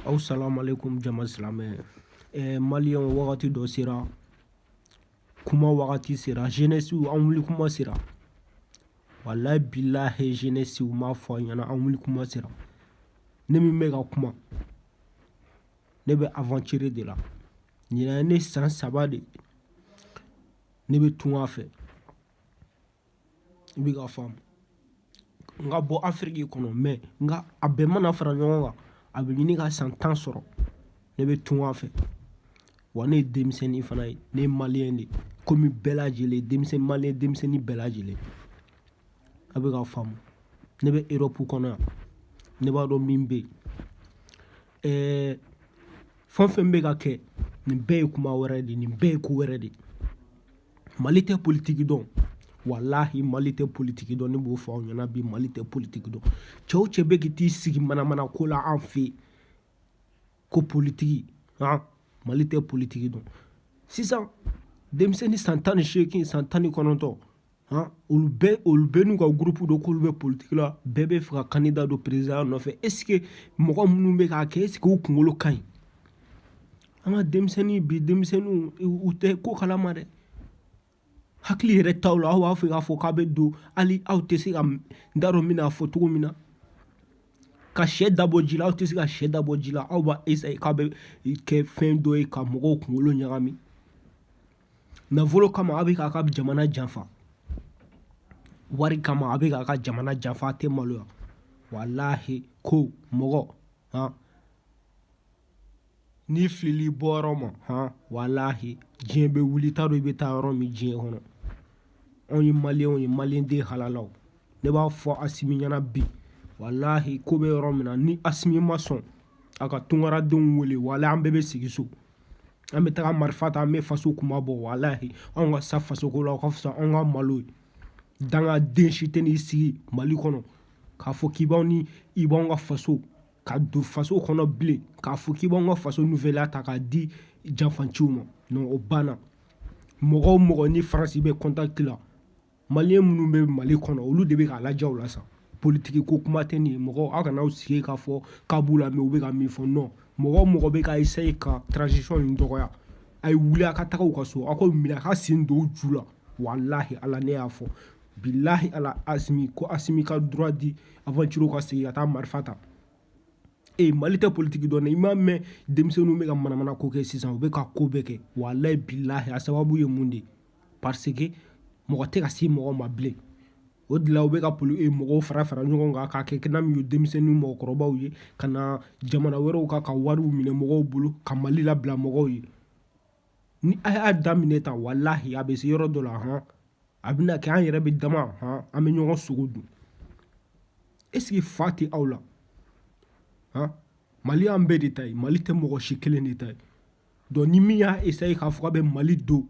aw salamualeykum jama silamɛ ɛɛ eh, maliyɛnw wagati dɔ sera kuma wagati sera jenɛsiw an wuli kuma sera walayi bilahi jenɛsiw m'a fɔ a ɲɛna an wuli kuma sera ne min bɛ ka kuma ne bɛ aventure de la ɲinan ye ne san saba de ne bɛ tunga fɛ i bɛ ka faamu n ka bɔ afiriki kɔnɔ mɛ nka a bɛɛ mana fara ɲɔgɔn kan a bɛ ɲini ka san tan sɔrɔ ne bɛ tunga fɛ wa ne ye denmisɛnnin fana ye ne ye maliyɛn de ye komi bɛɛ lajɛlen denmisɛnnin maliyɛn denmisɛnnin bɛɛ lajɛlen a bɛ ka faamu ne bɛ erɔpu kɔnɔ yan ne b'a dɔn min bɛ yen ɛɛ fɛn o fɛn bɛ ka kɛ nin bɛɛ ye kuma wɛrɛ de ye nin bɛɛ ye ko wɛrɛ de ye mali tɛ politiki dɔn walahi mali tɛ politiki dɔn ne b'o fɔ aw ɲɛna bi mali tɛ politiki dɔn cɛ o cɛ bɛ k'i t'i sigi manamana ko la an fɛ ko politiki han mali tɛ politiki dɔn sisan denmisɛnnin san tan ni seegin san tan ni kɔnɔntɔn han olu bɛɛ olu bɛɛ n'u ka gurupu don k'olu bɛ politiki la bɛɛ b'a fɛ ka kandida don perezidanya nɔfɛ esike mɔgɔ minnu bɛ k'a kɛ esike u kunkolo ka ɲi an ka denmisɛnnin bi denmisɛnninw u tɛ ko kalama dɛ hakili yɛrɛ t'aw la aw b'a fɛ k'a fɔ k'a bɛ don hali aw tɛ se ka n t'a dɔn n bɛn'a fɔ cogo min na ka sɛ dabɔ ji la aw tɛ se ka sɛ dabɔ ji la aw b'a esaye k'a bɛ kɛ fɛn dɔ ye ka mɔgɔw kunkolo ɲagami nafolo kama aw bɛ k'a ka jamana janfa wari kama a bɛ k'a ka jamana janfa a tɛ maloya walahi ko mɔgɔ han N'i filila i bɔyɔrɔ ma hɔn walahi diɲɛ bɛ wuli i t'a dɔn i bɛ taa yɔrɔ min diɲɛ kɔnɔ anw ye maliyɛnw ye maliden halalaw ne b'a fɔ asimi ɲɛna bi walahi ko bɛ yɔrɔ min na ni asimi ma sɔn a ka tunkaradenw wele walahi an bɛɛ bɛ segin so an bɛ taga marifa ta an bɛ faso kunmabɔ walahi anw ka sa fasoko la o ka fisa an ka malo ye dangaden si tɛn'i sigi mali kɔnɔ k'a fɔ k'i ni i b'an ka faso ka don faso kɔnɔ bilen k'a fɔ k'i b'an ka faso nouvelle ta k'a di janfanciw ma non o banna mɔgɔ o mɔgɔ ni faransi bɛ contact la maliyɛn minnu bɛ mali kɔnɔ olu de bɛ k'a lajɛ o la sa politiki ko kuma tɛ nin ye mɔgɔ aw kana aw sigi k'a fɔ k'a b'u lamɛn u bɛ ka min fɔ non mɔgɔ o mɔgɔ bɛ ka essaye ka transition nin dɔgɔya a ye wuli a ka taga u ka so aw k'u minɛ a ka sen don u ju la walahi ala ne y'a fɔ Bilahi ala asimi ko asimi ka droit di aventure ka segin ka taa marifa ta ee mali tɛ politigi dɔn i m'a mɛn denmisɛnnin bɛ ka manamana ko kɛ sisan u bɛ ka ko bɛɛ kɛ walahi bilahi a sababu ye mun de ye parce que mɔgɔ tɛ ka se mɔgɔ ma bilen o de la u bɛ ka poli e mɔgɔw fara fara ɲɔgɔn kan ka kɛ kira min ye denmisɛnnin mɔgɔkɔrɔbaw ye ka na jamana wɛrɛw kan ka wariw minɛ mɔgɔw bolo ka mali labila mɔgɔw ye ni a y'a daminɛ tan walahi a bɛ se yɔrɔ dɔ la hɔn a bɛna kɛ an yɛrɛ bɛ dama hɔn an bɛ ɲɔgɔn sogo dun est-ce que fa tɛ aw la hɔn mali y'an bɛɛ de ta ye mali tɛ mɔgɔ si kelen de ta ye donc ni min y'a essayer k'a fɔ a bɛ mali don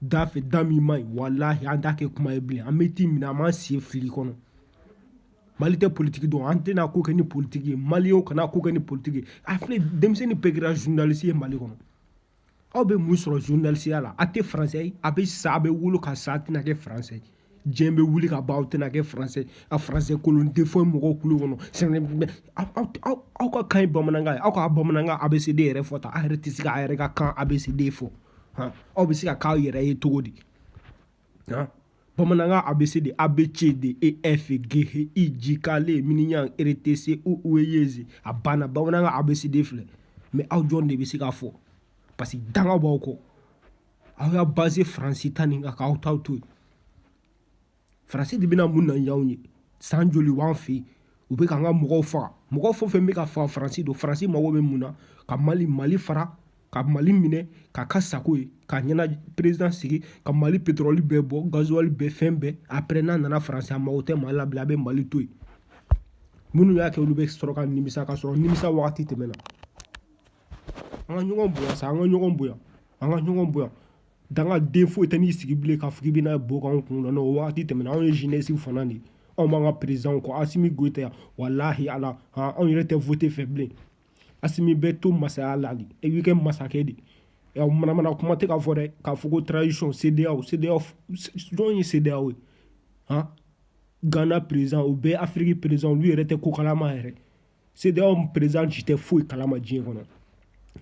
da fɛ da min man ɲi walahi an t'a kɛ kuma ye bilen an bɛ t'i minɛ an b'an sen fili kɔnɔ mali tɛ politiki dɔn an tɛna ko kɛ ni politiki ye maliyɛnw kana ko kɛ ni politiki ye a filɛ denmisɛnnin bɛɛ kɛra journaliste ye mali kɔnɔ aw bɛ mun sɔrɔ journalistiya la a tɛ faransɛ ye a bɛ sa a bɛ wolo ka sa a tɛna kɛ faransɛ diɲɛ bɛ wuli ka ban aw tɛna kɛ faransɛ ye a faransɛ kolon de fɔ mɔgɔw kulo kɔnɔ aw ka kan ye bamanankan ye aw ka bamanankan ABCD yɛrɛ fɔ tan a yɛrɛ tɛ se k'a yɛrɛ ka kan ABCD fɔ aw bɛ se ka k'aw yɛrɛ ye cogo di Hein? bamanankan ABCD a b c d e f g h i j k l m n r t c o u e y z a banna bamanankan ABCD filɛ mais aw jɔn de bɛ se k'a fɔ parce que danga b'aw kɔ aw y'a basé faransi ta nin kan k'aw taw to yen faransi de bɛna mun na y'anw ye san joli b'an fɛ yen u bɛ k'an ka mɔgɔw faga mɔgɔ fɛn fɛn bɛ ka faga faransi don faransi mago bɛ mun na ka mali mali fara ka mali minɛ k'a k'a sago ye k'a ɲɛna président sigi ka mali pétrole bɛɛ bɔ gasoil bɛɛ fɛn bɛɛ après n'a nana faransi mago tɛ mali la bilen a bɛ mali to yen minnu y'a kɛ olu bɛ sɔrɔ ka nimisa k'a sɔrɔ nimisa wagati tɛmɛna an ka ɲɔgɔn bonya sa an ka ɲɔgɔn bonya an ka ɲɔgɔn bonya dangaden foyi tɛ n'i sigi bilen k'a fɔ k'i bɛna bo k'an kun na o wagati tɛmɛna anw ye jeunesse fana de anw b'an ka président kɔ asimi goyita yan walahi ala anw yɛrɛ tɛ vote fɛ bilen asimi bɛ to masaya la e b'i kɛ masakɛ de manamana kuma tɛ k'a fɔ dɛ k'a fɔ ko transition CEDEAO jɔn ye CEDEAO ye hɔn gana président o bɛɛ afiriki président olu yɛrɛ tɛ ko kalama yɛrɛ CEDEAO président si tɛ foyi kalama diɲɛ kɔnɔ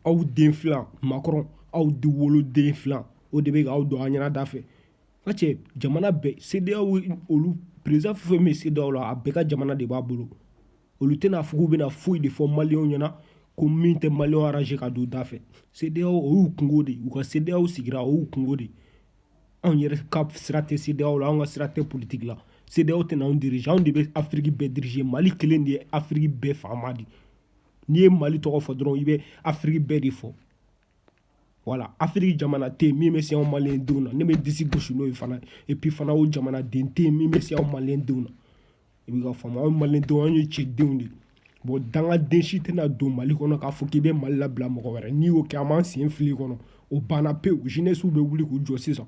aw den fila Macron aw de wolo den fila o de bɛ aw don an ɲɛna da fɛ parce que jamana bɛɛ CEDEAO olu président fɛn fɛn bɛ CEDEAO la a bɛɛ ka jamana de b'a bolo olu tɛna fɔ k'u bɛna foyi de fɔ maliyɛnw ɲɛna ko min tɛ maliyɛnw arranger ka don da fɛ CEDEAO o y'u kunko de u ka CEDEAO sigira o y'u kunko de anw yɛrɛ ka sira tɛ CEDEAO la anw ka sira tɛ politique la CEDEAO tɛna anw diriger anw de bɛ Afiriki bɛɛ diriger Mali kelen de ye Afiriki bɛɛ faama de n'i ye Mali tɔgɔ fɔ dɔrɔn i bɛ Afiriki bɛɛ de fɔ wala afiriki jamana tɛ yen min bɛ se anw maliyɛn denw na ne bɛ disi gosi n'o ye fana epi fana o jamana den tɛ yen min bɛ se anw maliyɛn denw na i bɛ ka faamu anw maliyɛn denw anw ye cɛdenw de ye bɔn dangaden si tɛna don mali kɔnɔ k'a fɔ k'i bɛ mali labila mɔgɔ wɛrɛ n'i y'o kɛ an b'an sen fili kɔnɔ o banna pewu jeunesse bɛ wuli k'u jɔ sisan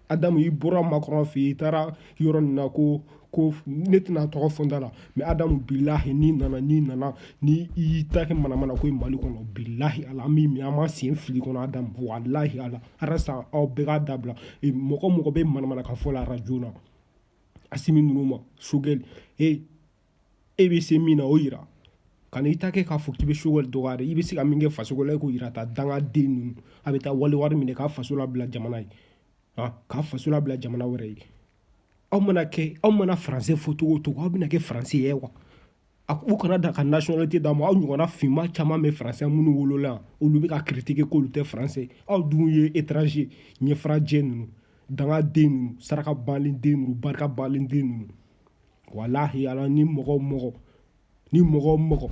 adamu i bɔra makɔrɔn fɛ yen i taara yɔrɔ nin na ko ko ne tɛna tɔgɔ fɔ n da la mɛ adamu bilahi n'i nana n'i nana ni i y'i ta kɛ manamana ko ye mali kɔnɔ bilahi ala an b'i minɛ an b'an sen fili kɔnɔ adamu walahi ala arasa aw bɛɛ k'a dabila e, mɔgɔ mɔgɔ bɛ manamana kan fɔ la arajo la asimi ninnu ma sogɛli e e bɛ se min na o yira kan'i ta kɛ k'a fɔ k'i bɛ sogɛli dɔgɔya i bɛ se ka min kɛ faso la e k'o yira ta dangaden ninnu a bɛ taa wali wari minɛ k'a faso labila jamana ye k'a faso labila jamana wɛrɛ ye aw mana kɛ aw mana faranse fɔ cogo o cogo aw bɛna kɛ faranse ye wa a u kana da ka nationalité d'aw ma aw ɲɔgɔnna finma caman bɛ faransi minnu wolola yan olu bɛ ka critiquer k'olu tɛ faranse aw dun ye étranger ɲɛfarajɛ ninnu dangaden ninnu saraka balen den ninnu barika balen den ninnu walahi ala ni mɔgɔ mɔgɔ ni mɔgɔ mɔgɔ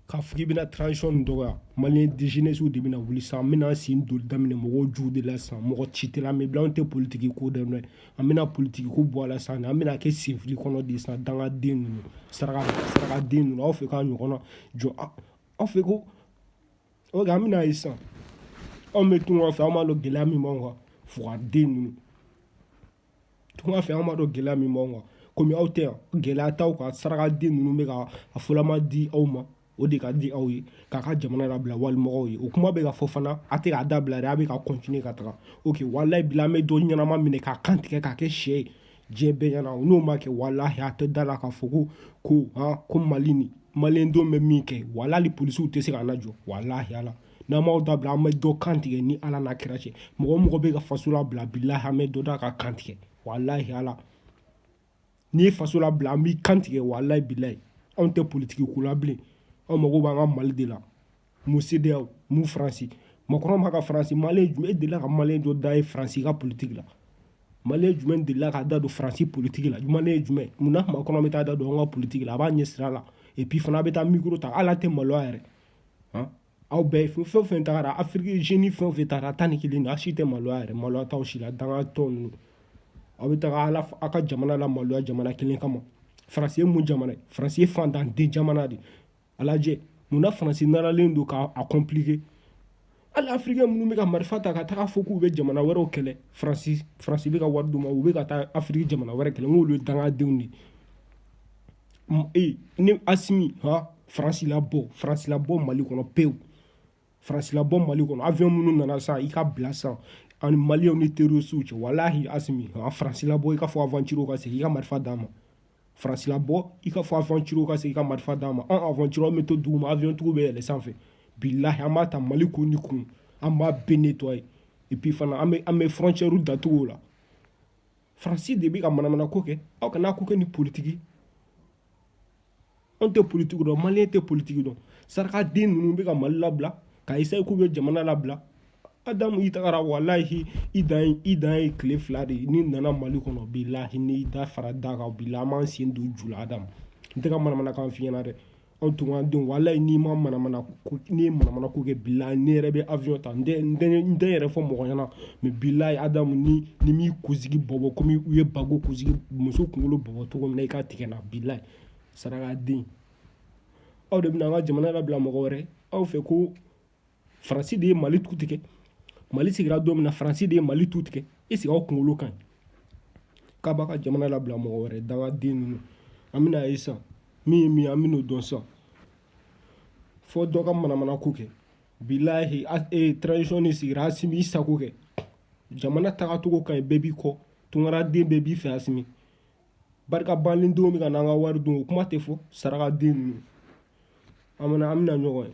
k'a fɔ k'i bɛna transition nin dɔgɔya maliyɛn jeunesse de bɛna wuli san an bɛna sen doli daminɛ mɔgɔw juw de la san mɔgɔ si tɛ la an bɛ bila an tɛ politiki ko dɛ mɛ an bɛna politiki ko bɔ a la san an bɛna kɛ senfili kɔnɔ de san dangaden ninnu saraka sarakaden ninnu aw fɛ k'a ɲɔgɔn na jɔ aw fɛ ko ok an bɛna ye san anw bɛ tunga fɛ an b'a dɔn gɛlɛya min b'anw kan fugaden ninnu Tunga fɛ anw b'a dɔn gɛlɛya min b'anw kan kɔmi aw tɛ yan gɛlɛya t'aw kan sarakaden ninnu bɛ ka a fɔlɔma di aw ma o de ka di aw ye k'a ka jamana labila walimɔgɔ ye o kuma bɛ ka fɔ fana a tɛ k'a dabila a bɛ ka kɔntinye ka taga ok walahi bilahi an bɛ dɔ ɲɛnama minɛ k'a kan tigɛ k'a kɛ sɛ ye diɲɛ bɛɛ ɲɛna u n'o ma kɛ walahi a tɛ da la ka fɔ ko ko ko mali ni mali denw bɛ min kɛ walahi hali polisiw tɛ se k'an lajɔ walahi ala n'an m'aw dabila an bɛ dɔ kan tigɛ ni ala n'a kira cɛ mɔgɔ mɔgɔ bɛ ka faso labila bilahi an bɛ dɔ da ka kan tigɛ walahi ala n'i ye faso labila an b'i kan tigɛ walahi bilahi anw tɛ politiki ko la bilen anw mago b'an ka mali de la mu sedeyaw mu faransi makɔrɔn n'a ka faransi maliyɛn jumɛn delila ka maliyɛn dɔ da ye faransi ka politiki la maliyɛn jumɛn delila k'a da don faransi politiki la maliyɛn jumɛn munna makɔrɔn bɛ taa da don an ka politiki la a b'a ɲɛ sira la epi fana a bɛ taa mikoro ta hali a tɛ maloya yɛrɛ aw bɛɛ fɛn fɛn fɛn tagara afiriki zeni fɛn fɛn taara tan ni kelen a si tɛ maloya yɛrɛ maloya t'aw si la dangatɔ ninnu aw bɛ taga aw ka jamana lamaloya jamana kelen kama faransi ye mun jamana ye faransi ye fantanden jamana de a lajɛ munna faransi naralen don k'a kɔnplike hali afirikɛn minnu bɛ ka marifa ta ka taga fɔ k'u bɛ jamana wɛrɛw kɛlɛ faransi faransi bɛ ka wari d'u ma u bɛ ka taa afiriki jamana wɛrɛ kɛlɛ n'olu ye dangadenw de ye ee ne asimi han faransi labɔ faransi labɔ mali kɔnɔ pewu faransi labɔ mali kɔnɔ avion minnu nana san i k'a bila san anw maliyɛnw ni terorisiw cɛ walahi asimi han faransi labɔ i k'a fɔ aventure ka segin i ka marifa d'a ma faransi labɔ i k'a fɔ aventure ka segin i ka marifa d'a ma an aventure bɛ to duguma avion tigiw bɛ yɛlɛ sanfɛ bilahi an b'a ta mali kun ni kun an b'a bɛɛ nettoyer et puis fana an bɛ an bɛ frontière datugu o la faransi de bɛ ka manamana ko kɛ aw kana ko kɛ ni politiki anw tɛ politiki dɔn maliyɛn tɛ politiki dɔn sarakaden ninnu bɛ ka mali labila ka essayer k'u bɛ jamana labila adamu i tagara walahi i dan ye i dan ye tile fila de ye n'i nana mali kɔnɔ bilahi n'i da fara da kan bilahi an b'an sen don ju la adamu n tɛ ka manamanakan f'i ɲɛna dɛ anw tunkaden walahi n'i ma manamana n'i ye manamana ko kɛ bilahi ne yɛrɛ bɛ avion ta n tɛ n tɛ n tɛ yɛrɛ fɔ mɔgɔ ɲɛna mais bilayi adamu ni n m'i kunsigi bɔbɔ komi u ye bago kunsigi muso kunkolo bɔbɔ cogo min na i ka tigɛ n na bilayi sarakaden aw de bɛna an ka jamana labila mɔgɔ wɛrɛ aw fɛ ko faransi de ye mali tu tigɛ mali sigira don min na faransi de ye mali tu tigɛ est ce que aw kunkolo ka ɲi k'a b'a ka jamana labila mɔgɔ wɛrɛ dangaden ninnu an bɛn'a ye san min ye min ye an bɛn'o dɔn san fo dɔ ka manamana ko kɛ bilahi e transition de sigira asimi i sago kɛ jamana tagacogo ka ɲi bɛɛ b'i kɔ tunkaraden bɛɛ b'i fɛ asimi barika banlen denw bɛ ka n'an ka wari dun o kuma tɛ fɔ sarakaden ninnu an bɛna an bɛna ɲɔgɔn ye